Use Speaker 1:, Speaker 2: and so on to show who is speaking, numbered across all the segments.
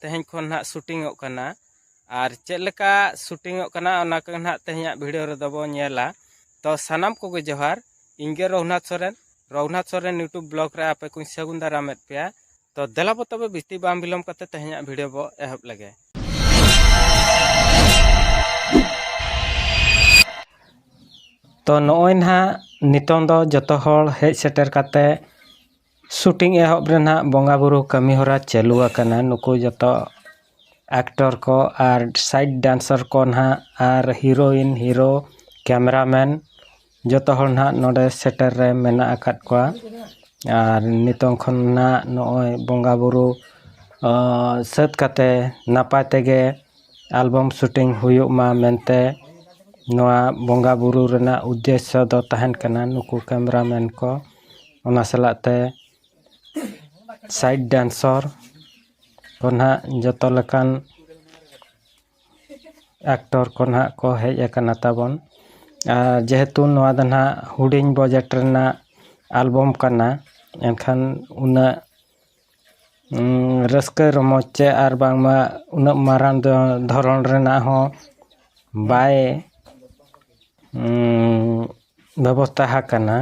Speaker 1: ᱛᱮᱦᱮᱧ ᱠᱷᱚᱱ ᱱᱟᱦᱟᱜ ᱥᱩᱴᱤᱝᱚᱜ ᱠᱟᱱᱟ ᱟᱨ ᱪᱮᱫ ᱞᱮᱠᱟ ᱥᱩᱴᱤᱝᱚᱜ ᱠᱟᱱᱟ ᱚᱱᱟ ᱠᱚᱜᱮ ᱱᱟᱦᱟᱜ ᱛᱮᱦᱮᱧᱟᱜ ᱵᱷᱤᱰᱤᱭᱳ ᱨᱮᱫᱚ ᱵᱚᱱ ᱧᱮᱞᱟ ᱛᱚ ᱥᱟᱱᱟᱢ ᱠᱚᱜᱮ ᱡᱚᱦᱟᱨ ᱤᱧ ᱜᱮ ᱨᱚᱜᱷᱩᱱᱟᱛᱷ ᱥᱚᱨᱮᱱ ᱨᱚᱜᱷᱩᱱᱟᱛᱷ ᱥᱚᱨᱮᱱ ᱤᱭᱩᱴᱩᱵᱽ ᱵᱞᱚᱜᱽ ᱨᱮ ᱟᱯᱮ ᱠᱚᱧ ᱥᱟᱹᱜᱩᱱ ᱫᱟᱨᱟᱢᱮᱫ ᱯᱮᱭᱟ ᱛᱚ ᱫᱮᱞᱟ ᱵᱚ ᱛᱚᱵᱮ ᱵᱤᱥᱛᱤ ᱵᱟᱝ ᱵᱤᱞᱚᱢ ᱠᱟᱛᱮ ᱛᱮᱦᱮᱧᱟᱜ ᱵᱷᱤᱰᱤᱭᱳ ᱵᱚ ᱮᱦᱚᱵ ᱞᱮᱜᱮ ᱛᱚ ᱱᱚᱜᱼᱚᱭ ᱱᱟᱦᱟᱜ ᱱᱤᱛᱚᱝ ᱫᱚ ᱡᱚᱛᱚ ᱦᱚᱲ ᱦᱮᱡ ᱥᱮᱴᱮᱨ ᱠᱟᱛᱮ ᱥᱩᱴᱤᱝ ᱮᱦᱚᱵ ᱨᱮ ᱱᱟᱦᱟᱜ ᱵᱚᱸᱜᱟ ᱵᱩᱨᱩ ᱠᱟᱹᱢᱤ ᱦᱚᱨᱟ ᱪᱟᱹᱞᱩ ᱟᱠᱟᱱᱟ ᱱᱩᱠᱩ ᱡᱚᱛᱚ ᱮᱠᱴᱚᱨ ᱠᱚ ᱟᱨ ᱥᱟᱭᱤᱰ ᱰᱮᱱᱥᱚᱨ ᱠᱚ ᱱᱟᱦᱟᱜ ᱟᱨ ᱦᱤᱨᱳᱭᱤᱱ ᱦᱤᱨᱳ ᱠᱮᱢᱮᱨᱟ ᱢᱮᱱ ᱡᱚᱛᱚ ᱦᱚᱲ ᱱᱟᱦᱟᱜ ᱱᱚᱰᱮ ᱥᱮᱴᱮᱨ ᱨᱮ ᱢᱮᱱᱟᱜ ᱟᱠᱟᱫ ᱠᱚᱣᱟ ᱟᱨ ᱱᱤᱛᱚᱝ ᱠᱷᱚᱱ ᱱᱟᱦᱟᱜ ᱱᱚᱜᱼᱚᱭ ᱵᱚᱸᱜᱟ ᱵᱩᱨᱩ ᱥᱟᱹᱛ ᱠᱟᱛᱮ ᱱᱟᱯᱟᱭ ᱛᱮᱜᱮ ᱮᱞᱵᱟᱢ ᱥᱩᱴᱤᱝ ᱦᱩᱭᱩᱜ ᱢᱟ ᱢᱮᱱᱛᱮ ᱱᱚᱣᱟ ᱵᱚᱸᱜᱟ ᱵᱩᱨᱩ ᱨᱮᱱᱟᱜ ᱩᱫᱽᱫᱮᱥᱥᱚ ᱫᱚ ᱛᱟᱦᱮᱱ ᱠᱟᱱᱟ ᱱᱩᱠᱩ ᱠᱮᱢᱮᱨᱟ ᱢᱮᱱ ᱠᱚ ᱚᱱᱟ ᱥᱟᱞᱟᱜ ᱛᱮ ᱥᱟᱭᱤᱰ ᱰᱮᱱᱥᱚᱨ ᱠᱚ ᱱᱟᱜ ᱡᱚᱛᱚ ᱞᱮᱠᱟᱱ ᱮᱠᱴᱚᱨ ᱠᱚ ᱱᱟᱜ ᱠᱚ ᱦᱮᱡ ᱟᱠᱟᱱᱟ ᱛᱟᱵᱚᱱ ᱟᱨ ᱡᱮᱦᱮᱛᱩ ᱱᱚᱣᱟ ᱫᱚ ᱱᱟᱜ ᱦᱩᱰᱤᱧ ᱵᱟᱡᱮᱠᱴ ᱨᱮᱱᱟᱜ ᱮᱞᱵᱟᱢ ᱠᱟᱱᱟ ᱮᱱᱠᱷᱟᱱ ᱩᱱᱟᱹᱜ ᱨᱟᱹᱥᱠᱟᱹ ᱨᱚᱢᱚᱡᱽ ᱪᱮ ᱟᱨ ᱵᱟᱝᱢᱟ ᱩᱱᱟᱹᱜ ᱢᱟᱨᱟᱝ ᱫᱚ ᱫᱷᱚᱨᱚᱱ ᱨᱮᱱᱟᱜ ᱦᱚᱸ ᱵᱟᱭ ᱵᱮᱵᱚᱥᱛᱷᱟ ᱟᱠᱟᱱᱟ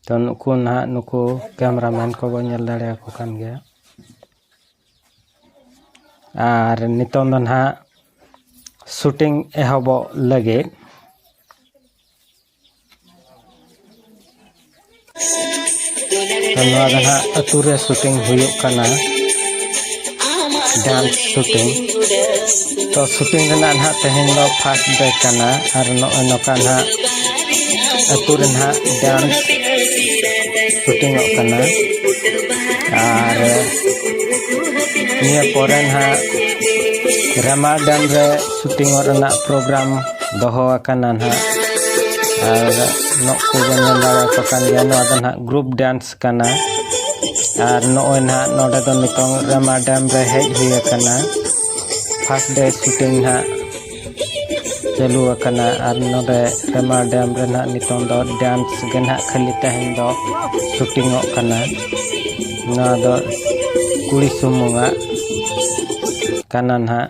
Speaker 1: ᱛᱚ ᱱᱩᱠᱩ ᱱᱟᱦᱟᱜ ᱱᱩᱠᱩ ᱠᱮᱢᱮᱨᱟ ᱢᱮᱱ ᱠᱚᱵᱚᱱ ᱧᱮᱞ ᱫᱟᱲᱮᱭᱟᱠᱚ ᱠᱟᱱ ᱜᱮᱭᱟ ᱟᱨ ᱱᱤᱛᱚᱝ ᱫᱚ ᱱᱟᱦᱟᱜ ᱥᱩᱴᱤᱝ ᱮᱦᱚᱵᱚᱜ ᱞᱟᱹᱜᱤᱫ ᱱᱚᱣᱟ ᱫᱚ ᱦᱟᱸᱜ ᱟᱹᱛᱩ ᱨᱮ ᱥᱩᱴᱤᱝ ᱦᱩᱭᱩᱜ ᱠᱟᱱᱟ ᱰᱟᱱᱥ ᱥᱩᱴᱤᱝ ᱛᱚ ᱥᱩᱴᱤᱝ ᱨᱮᱱᱟᱜ ᱱᱟᱦᱟᱜ ᱛᱮᱦᱮᱧ ᱫᱚ ᱯᱷᱟᱥᱴ ᱰᱮ ᱠᱟᱱᱟ ᱟᱨ ᱱᱚᱜᱼᱚᱭ ᱱᱚᱝᱠᱟ ᱱᱟᱦᱟᱜ ᱟᱹᱛᱩ ᱨᱮ ᱱᱟᱦᱟᱜ ᱰᱟᱱᱥ ᱥᱩᱴᱤᱝᱚᱜ ᱠᱟᱱᱟ ᱟᱨ ᱱᱤᱭᱟᱹ ᱯᱚᱨᱮ ᱱᱟᱦᱟᱜ ᱨᱟᱢᱟ ᱰᱮᱢ ᱨᱮ ᱥᱩᱴᱤᱝᱚᱜ ᱨᱮᱱᱟᱜ ᱯᱨᱳᱜᱨᱟᱢ ᱫᱚᱦᱚ ᱟᱠᱟᱱᱟ ᱱᱟᱦᱟᱜ ᱟᱨ ᱱᱚᱜ ᱠᱚᱵᱚᱱ ᱧᱮᱞ ᱫᱟᱲᱮᱭᱟᱠᱚ ᱠᱟᱱ ᱜᱮᱭᱟ ᱱᱚᱣᱟ ᱫᱚ ᱱᱟᱦᱟᱜ ᱜᱨᱩᱯ ᱰᱟᱱᱥ ᱠᱟᱱᱟ ᱟᱨ ᱱᱚᱜᱼᱚᱭ ᱱᱟᱦᱟᱜ ᱱᱚᱰᱮ ᱫᱚ ᱱᱤᱛᱚᱝ ᱨᱟᱢᱟ ᱰᱮᱢ ᱨᱮ ᱦᱮᱡ ᱦᱩᱭ ᱟᱠᱟᱱᱟ ᱯᱷᱟᱥᱴ ᱰᱮ ᱥᱩᱴᱤᱝ ᱱᱟᱦᱟᱜ ᱪᱟᱹᱞᱩ ᱟᱠᱟᱱᱟ ᱟᱨ ᱱᱚᱰᱮ ᱨᱟᱢᱟ ᱰᱮᱢ ᱨᱮ ᱱᱟᱦᱟᱜ ᱱᱤᱛᱚᱝ ᱫᱚ ᱰᱟᱱᱥ ᱜᱮ ᱱᱟᱦᱟᱜ ᱠᱷᱟᱹᱞᱤ ᱛᱮᱦᱮᱧ ᱫᱚ ᱥᱩᱴᱤᱝᱚᱜ ᱠᱟᱱᱟ ᱱᱚᱣᱟ ᱫᱚ ᱠᱩᱲᱤ ᱥᱩᱢᱩᱝᱟᱜ ᱠᱟᱱᱟ ᱱᱟᱦᱟᱜ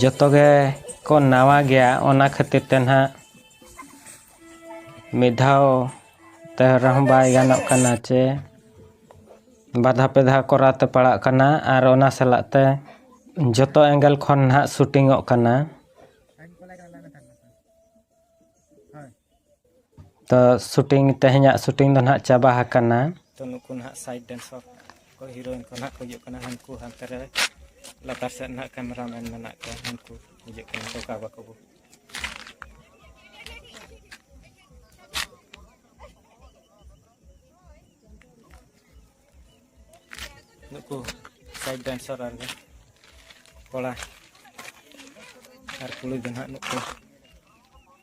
Speaker 1: ᱡᱚᱛᱚ ᱜᱮ ᱠᱚ ᱱᱟᱣᱟ ᱜᱮᱭᱟ ᱚᱱᱟ ᱠᱷᱟᱹᱛᱤᱨ ᱛᱮ ᱱᱟᱦᱟᱜ ᱢᱤᱫ ᱫᱷᱟᱣ ᱛᱮ ᱨᱮᱦᱚᱸ ᱵᱟᱭ ᱜᱟᱱᱚᱜ ᱠᱟᱱᱟ ᱪᱮ ᱵᱟᱨ ᱫᱷᱟᱣ ᱯᱮ ᱫᱷᱟᱣ ᱠᱚᱨᱟᱣ ᱛᱮ ᱯᱟᱲᱟᱜ ᱠᱟᱱᱟ ᱟᱨ ᱚᱱᱟ ᱥᱟᱞᱟᱜ ᱛᱮ ᱡᱚᱛᱚ ᱮᱸᱜᱮᱞ ᱠᱷᱚᱱ ᱱᱟᱦᱟᱜ ᱥᱩᱴᱤᱝᱚᱜ ᱠᱟᱱᱟ ᱛᱚ ᱥᱩᱴᱤᱝ ᱛᱮᱦᱮᱧᱟᱜ ᱥᱩᱴᱤᱝ ᱫᱚ ᱱᱟᱦᱟᱜ ᱪᱟᱵᱟ ᱟᱠᱟᱱᱟ ᱛᱚ ᱱᱩᱠᱩ ᱱᱟᱦᱟᱜ ᱥᱟᱭᱤᱰ ᱰᱮᱱᱥᱚᱨ ᱠᱚ ᱦᱤᱨᱳᱭᱤᱱ ᱠᱚ ᱱᱟᱦᱟᱜ ᱠᱚ ᱦᱤᱡᱩᱜ ᱠᱟᱱᱟ ᱦᱟᱱᱠᱩ ᱦᱟᱱᱛᱮ ᱨᱮ ᱞᱟᱛᱟᱨ ᱥᱮᱫ ᱱᱟᱦᱟᱜ ᱠᱮᱢᱮᱨᱟ ᱢᱮᱱ ᱢᱮᱱᱟᱜ ᱠᱚᱣᱟ ᱦᱟᱱᱠᱩ ᱦᱤᱡᱩᱜ ᱠᱟᱱᱟ ᱠᱚ ᱠᱟᱵᱟ ᱠᱚᱵᱚ ᱱᱩᱠᱩ ᱥᱟᱭᱤᱰ ᱰᱮᱱᱥᱚᱨ ᱟᱨ ᱠᱚᱲᱟ ᱟᱨ ᱠᱩᱲᱤ ᱫᱚ ᱱᱟᱦᱟᱜ ᱱᱩᱠᱩ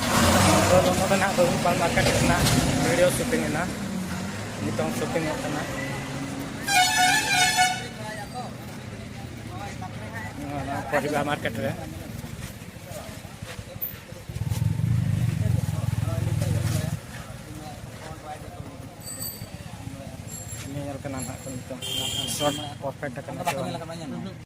Speaker 1: ᱟᱫᱚ ᱱᱚᱜᱼᱚ ᱱᱚᱰᱮ ᱱᱟᱦᱟᱜ ᱵᱟᱹᱵᱩ ᱯᱟᱞ ᱢᱟᱨᱠᱮᱴ ᱨᱮᱱᱟᱜ ᱵᱷᱤᱰᱤᱭᱳ ᱥᱩᱴᱤᱝ ᱮᱱᱟ ᱱᱤᱛᱚᱝ ᱥᱩᱴᱤᱝ ᱚᱜ ᱠᱟᱱᱟ ᱱᱚᱣᱟ ᱯᱚᱨᱤᱵᱟ ᱢᱟᱨᱠᱮᱴ ᱨᱮ ᱧᱮᱧᱮᱞ ᱠᱟᱱᱟ ᱱᱟᱦᱟᱜ ᱱᱤᱛᱚᱝ ᱥᱚᱴ ᱯᱟᱨᱯᱷᱮᱠᱴ ᱠᱟᱱᱟ ᱥᱮ ᱵᱟᱝ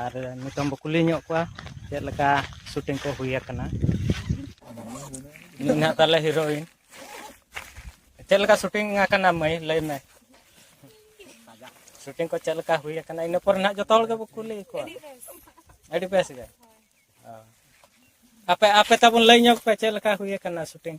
Speaker 1: ᱟᱨ ᱱᱤᱛᱚᱝ ᱵᱚ ᱠᱩᱞᱤ ᱧᱚᱜ ᱠᱚᱣᱟ ᱪᱮᱫ ᱞᱮᱠᱟ ᱥᱩᱴᱤᱝ ᱠᱚ ᱦᱩᱭ ᱟᱠᱟᱱᱟ ᱤᱧ ᱦᱟᱸᱜ ᱛᱟᱦᱚᱞᱮ ᱦᱤᱨᱳᱭᱤᱱ ᱪᱮᱫ ᱞᱮᱠᱟ ᱥᱩᱴᱤᱝ ᱟᱠᱟᱱᱟ ᱢᱟᱹᱭ ᱞᱟᱹᱭ ᱢᱮ ᱥᱩᱴᱤᱝ ᱠᱚ ᱪᱮᱫ ᱞᱮᱠᱟ ᱦᱩᱭ ᱟᱠᱟᱱᱟ ᱤᱱᱟᱹ ᱯᱚᱨᱮ ᱱᱟᱦᱟᱜ ᱡᱚᱛᱚ ᱦᱚᱲ ᱜᱮᱵᱚ ᱠᱩᱞᱤ ᱠᱚᱣᱟ ᱟᱹᱰᱤ ᱵᱮᱥ ᱜᱮ ᱟᱯᱮ ᱟᱯᱮ ᱛᱟᱵᱚᱱ ᱞᱟᱹᱭ ᱧᱚᱜ ᱯᱮ ᱪᱮᱫ ᱞᱮᱠᱟ ᱦᱩᱭ ᱟᱠᱟᱱᱟ ᱥᱩᱴᱤᱝ